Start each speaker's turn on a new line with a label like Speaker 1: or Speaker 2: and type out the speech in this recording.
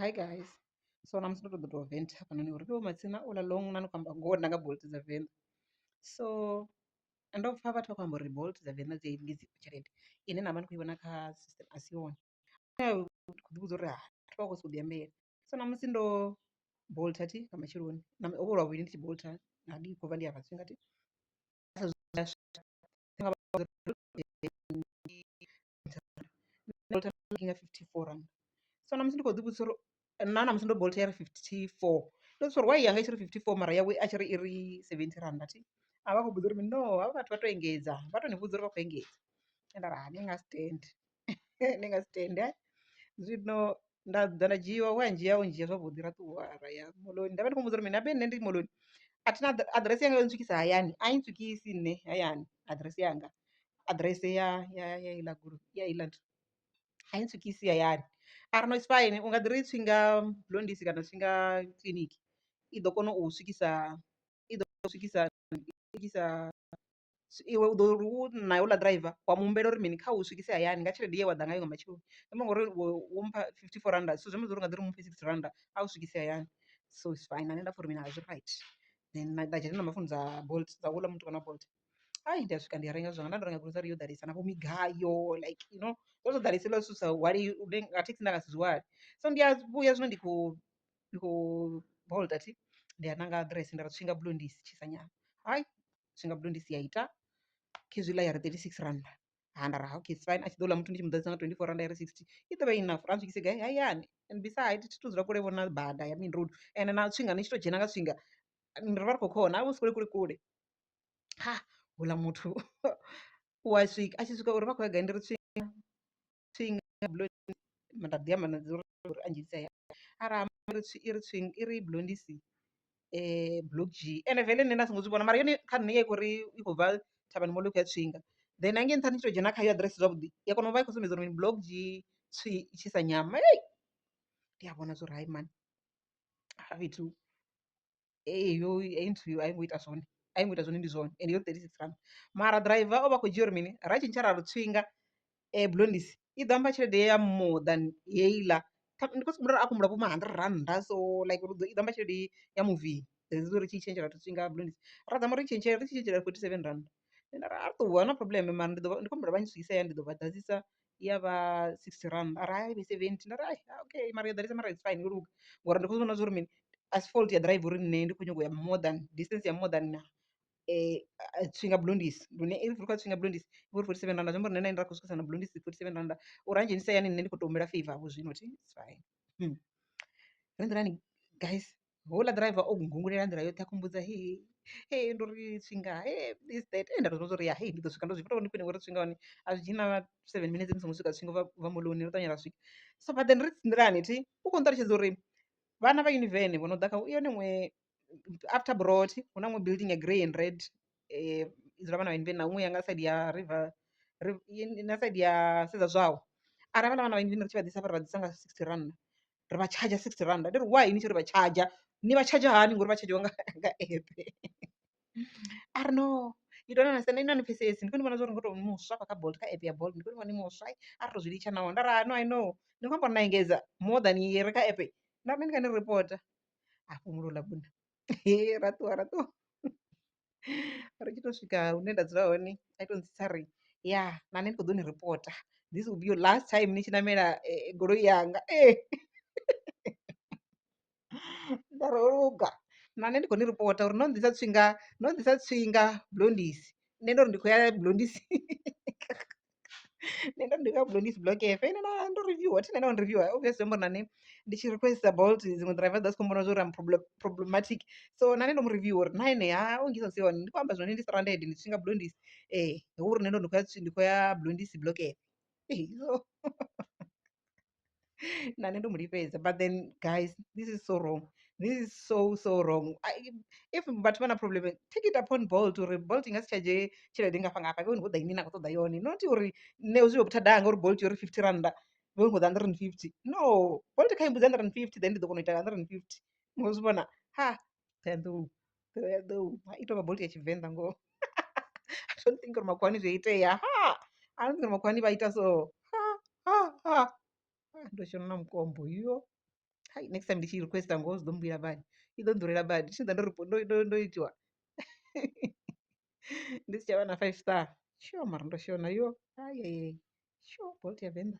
Speaker 1: Hi guys. So namusi ndo ṱoḓa u tou vent hafhanoni uri to matsina ola long na no khou amba ngoho nda nga bolt dza venḓa. So ndo pfha vhathu vha khou amba uri bolt dza venḓa dzi a i vhidza tshelede ine na vha ni khou i vhona kha system a si yone. Nṋe ndi khou ḓi vhudza uri hai vhathu vha khou sokou ḓi ambela. So namusi ndo bolt thi nga matsheloni na ho vha hu lwavhuḓi ndi tshi bolt na ndi khou bva ndi afha tshifhinga thi. bolt nga fifty four rannda, so na musi ndi kho ḓi vhudzisa uri na ṋamusi ndo bolt yari fifty four ndo vhudzisa uri why yanga itshiri fifty four mara yawe a tshi ri iri seventhi rannda thi a vha khou mmbudza uri mini no havha vhathu vha to engedza vha to ni vhudza uri vha khou engedza nda ri ha ni nga si tende ni nga si tende zwino. nda ḓa nda dzhiiwa wa ndzhia o ndzhia zwavhuḓi ra ṱuwa ra ya moḽoni nda vha ndi khou muvhudza uri mini habe nṋe ndi moḽoni a thina aḓirese yanga yo ntswikisa hayani a i ntswikisi nṋe hayani aḓirese yanga aḓirese ya ya ya iḽa gulu ya iḽa nthu a i ntswikisi hayani a ri no it's fine u nga ḓi ri tswi nga blondisi kana tswi nga kiḽiniki i ḓo kona u swikisa i ḓo swikisa swikisa. iwe u ḓo ri u na houḽa ḓiraiva wa mu humbela uri mini kha u swikise hayani nga tshelede ye wa ḓa ngayo nga matsheloni zwi amba uri wo mpha fifty four rannda so zwi amba zwori u nga ḓi ri muphe sixty rannda a u swikise hayani so is fine na nṋe nda pfha uri mini zwi right then nda dzhena na mafuni dza bolt dza houḽa muthu kana bolt ai ndi a swika ndi a renga zwanga nda ndo renga grocery yo ḓalesa na vho migayo like you know zwo zwo ḓalesa hezwiḽa zwithu zwi sa hwali nga thekhisi nda nga si zwi hwale so ndi a vhuya zwino ndi khou ndi khou bolt athi ndi a ṋanga aḓirese nda ri Tswingabulondisi Tshisanyama hai. zwi nga budo ndi si ya ita khezwi ḽa ya ri 36 rannda handa ra okay fine a tshi ḓo ḽa muthu ndi tshi mu ḓadzisa nga 24 rannda ya ri 60 i ḓo vha i enough ra mu swikise gai hayani and beside thi thu dzula kule vhona bada ya main road ende na tswinga ni tshi tou dzhena nga tswinga ri vha ri khou khona a vho si kule kule kule ha houḽa muthu u a swika a tshi swika uri vha khou ya gai ndi ri tswinga swing blondie nda ḓi amba na dza uri uri a ndzhenisa hayani ara amba uri i ri swing i ri blondie si block dzhie ende veḽe nṋe nda songo zwi vhona mara yone kha nṋe i khouri i khou bva thavhani mall i khou ya tswinga then hangei nṱhani tshi to dzhena khayo aḓirese zwavhuḓi i a kona u vha i khou sumbedza uri mini block dzhie tswi i tshisa nyama ndi a vhona zwa uri hai mani hafha fhethu. heyo interview a i ngo ita zwone a i ngo ita zwone ndi zwone ende yo thirty six rand mara driver o vha a khou dzhia uri mini ra tshintsha ra lu tswinga Blondis i ḓo amba tshelede ya more than heiḽa ndi khou sokou humbula uri a khou humbula vho ma hundred rannda so like uri i ḓo amba tshelede ya muvhili that is uri tshi tshentsha ra lu tswinga Blondis ra dzama uri i tshentshe ri tshi tshintshela forty seven rannda nda ri a ṱuwa no problem mara ndi ḓo vha ndi khou humbula vha ntswise hayani ndi ḓo vha ḓadzisa i ya vha sixty rand mara hai ivhe seventy nda ri ai okay mara yo ḓalesa mara its fine yo luga ngori ndi kho zwi vhona zwa uri mini asi fault ya ḓiraiva uri nṋe ndi kho nyaga u ya more than distance ya more than Tswinga Blondis lune if ri khou ya Tswinga Blondis i vhori forty seven rannda zwi amba uri nṋe na inwi ra khou swikisa na Blondis forty seven rannda uri a ndzhenise hayani nṋe ndi kho to humbela favour vho zwino thi its fine ri nḓilani guys houḽa ḓiraiva o nngungululela nḓila yoṱhe a khou mmbudza heyi hee ndo ri Tswinga hee this that hee nda tou zwi vhona zwa uri ya hei ndi ḓo swika ndo zwi vhona uri ndi khwine ngori Tswinga hone a zwi dzhii na seven minutes ni songo swika Tswinga u vha u vha moḽoni ri ṱavhanya ra swika. So but then ri nḓilani thi u khou nṱalutshedza uri vhana vha yunivene vhene vho no ḓa kha u yone iṅwe after Brought hu na iṅwe building ya grey and red i dzula vhana vha yunivene na iṅwe ya nga side ya River na side ya Sedza Zwau ara havhaḽa vhana vha yunivene ri tshi vha ḓisa hafha ra vha ḓisa nga sixty rannda ri vha tshadzha sixty rand ndi ri why ni tshi ri vha tshadzha ni vha tshadzha hani ngori vha tshadzhiwa nga nga app a ri no you don't understand inwi a ni pfhesesi ndi kho ni vhona zwori ngo to muswa afha kha bolt kha app ya bolt ndi kho ni vhona ni muswa a ri to zwi litsha naho nda ri no i know ni khou amba uri na engedza more than ye re kha app nda ri ndi nga ni reporta hafho mulovha ḽa vhuṋa ra ṱuwa ra ṱuwa. ri tshi to swika hune nda dzula hone a to ntsitsa ari ya na nṋe ndi kho ḓo ni ripota this will be your last time ni tshi ṋamela goloi yanga nda ri ho luga na nṋe ndi kho ni ripota uri no nnḓisa tswinga no nnḓisa tswinga Blondis nṋe ndo ri ndi khou ya Blondis. nṋe ndo ndi nga humbula ndi si block app ine na ndo reviewer thi nda wana reviewer obvious zwi amba uri na nṋe ndi tshi requester bolt dziṅwe driver dza si kho mmbona zwa uri am problem problematic so na nṋe ndo mu reviewer uri na ene ha u ngisa si hone ndi khou amba zwone ndi stranded ndi tshi nga blondis ee hu uri nṋe ndo ndi khou ya ndi khou ya blondis block app so na nṋe ndo mu lifhedza but then guys this is so wrong this is so so wrong I, if vhathu vha na problem take it upon bolt uri bolt i nga si tshadzhe tshelede ngafha ngafha vhe ni khou ḓa ine na khou ṱoḓa yone not uri nṋe zwi vho phuthadaha ngauri bolt yo ri fifty rannda vhe ni khou ḓa hundred and fifty no bolt kha i mbudza hundred and fifty then ndi ḓo kona u ita hundred and fifty ngo zwi vhona ha ṱhohoyanḓou ḓou ha ito vha bolt ya tshivenḓa ngoho I don't think uri makhuwani zwi itea ha I don't think makhuwani vha ita so ha ha ha ndo shona na mukombo yo hai next time ndi tshi requesta ngoho zwi ḓo mbuyela badi i ḓo nḓurela badi tshi ḓa ndo ndo ndo itiwa ndi si tsha vha na five star sho mara ndo shona yo ayeye sho bolt ya venḓa